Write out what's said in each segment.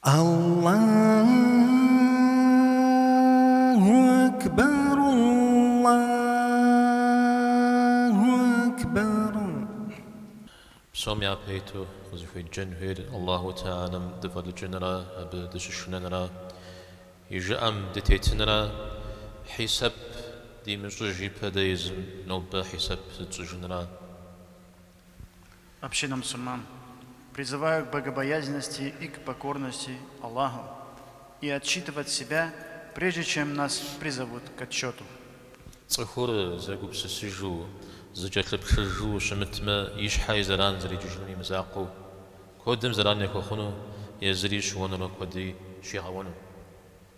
Аллагьу Акбар Аллагьу Акбар. Псом япэ иту къызыхуеджэн хуейр Аллагьу Теалэм дыфӏэлӏыкӏынрэ Абы дыщышынэнрэ, И жыӏэм дытетынрэ, хьисэп димыщӏыж ипэ дэ езым нобэ хьисэп зытщӏыжынрэ. Община мусульман призываю к богобоязненности и к покорности Аллаху и отчитывать себя, прежде чем нас призовут к отчету. Цӏыхур зэгупсысыжу, зыкӏэлъыплъыжу щымытмэ, и щхьэ и зэран зэрекӏыжынум и мызакъуэу, куэдым зэран яхуэхъуну, езыри щыуэнурэ куэди щигъэуэну.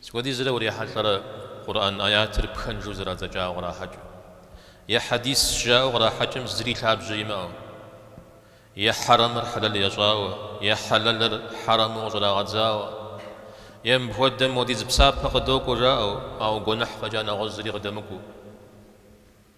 Сыт хуэдизрэ урихьэлӏэрэ Къурӏэн ӏэятыр пхэнжу зэрадзэкӏауэ кърахьэкӏыу, е хьэдисщ жаӏэу кърахьэкӏым зыри лъабжьэ имыӏэу, е хьэрэмыр хьэлэл ящӏауэ, е хьэлэлыр хьэрэму къыщӏрагъэдзауэ, е мыпхуэдэм уэдиз псапэ къыдокӏуэ жаӏэу, ауэ гуэныхь фӏэкӏа нэгъуэщӏ зыри къыдэмыкӏуу.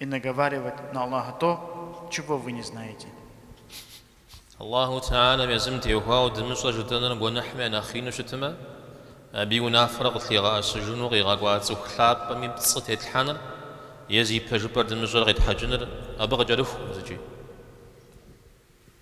И наговаривать на Аллаха то, чего вы не знаете. Аллаху Теалэм езым теухуауэ дымыщӏэр жытӏэныр гуэныхьым я нэхъ ину щытмэ, абы и унафэр къытлъигъэӏэсыжыну къигъэкӏуа цӏыху лъапӏэми пцӏы тетлъхьэныр е зи пэжыпӏэр дымыщӏэр къетхьэкӏыныр абы къыкӏэрыху зыкӏи.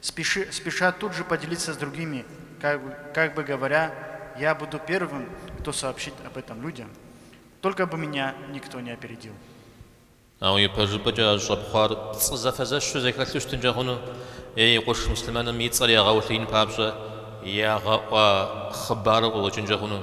Спеши, спешат тут же поделиться с другими, как, как бы говоря, я буду первым, кто сообщит об этом людям, только бы меня никто не опередил. Ауэ ипэжыпӏэкӏэ а щӏэпхъуар пцӏы зэфэзэщу зэхэлъу щытынкӏэ хъуну? Е уи къуэш муслъымэным и цӏэр ягъэулъиин папщӏэ ягъэӏуа хъыбару къыкъуэкӏынкӏэ хъуну?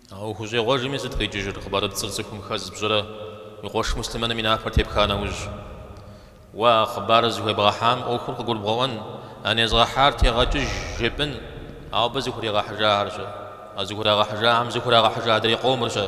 Ауэ ухущӏегъуэжми сыт къикӏыжыр, хъыбарыпцӏыр цӏыхум хэз пщӏырэ уи къуэш муслъымэным и напэр тепха нэужь? Уэ а хъыбарыр зыхуебгъэхьам ӏуэхур къыгурыбгъэӏуэн, а незгъэхьар тегъэкӏыж жепӏын, ауэ абы зыхуригъэхьыжахэр-щэ, а зыхурагъэхьыжахэм зыхурагъэхьыжа адрей къомыр-щэ.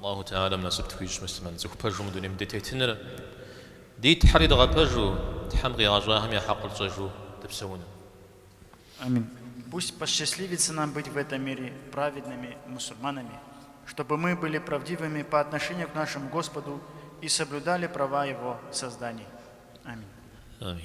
Аллаху Теалэм насып тхуищӏ муслъымэн цӏыху пэжу мы дунейм дытетыныр, ди Тхьэр дгъэпэжу, Тхьэм къигъэщӏахэм я хьэкъыр тщӏэжу дыпсэуну. Амин. Пусть посчастливится нам быть в этом мире праведными мусульманами, чтобы мы были правдивыми по отношению к нашему Господу и соблюдали права Его созданий. Амин. Амин.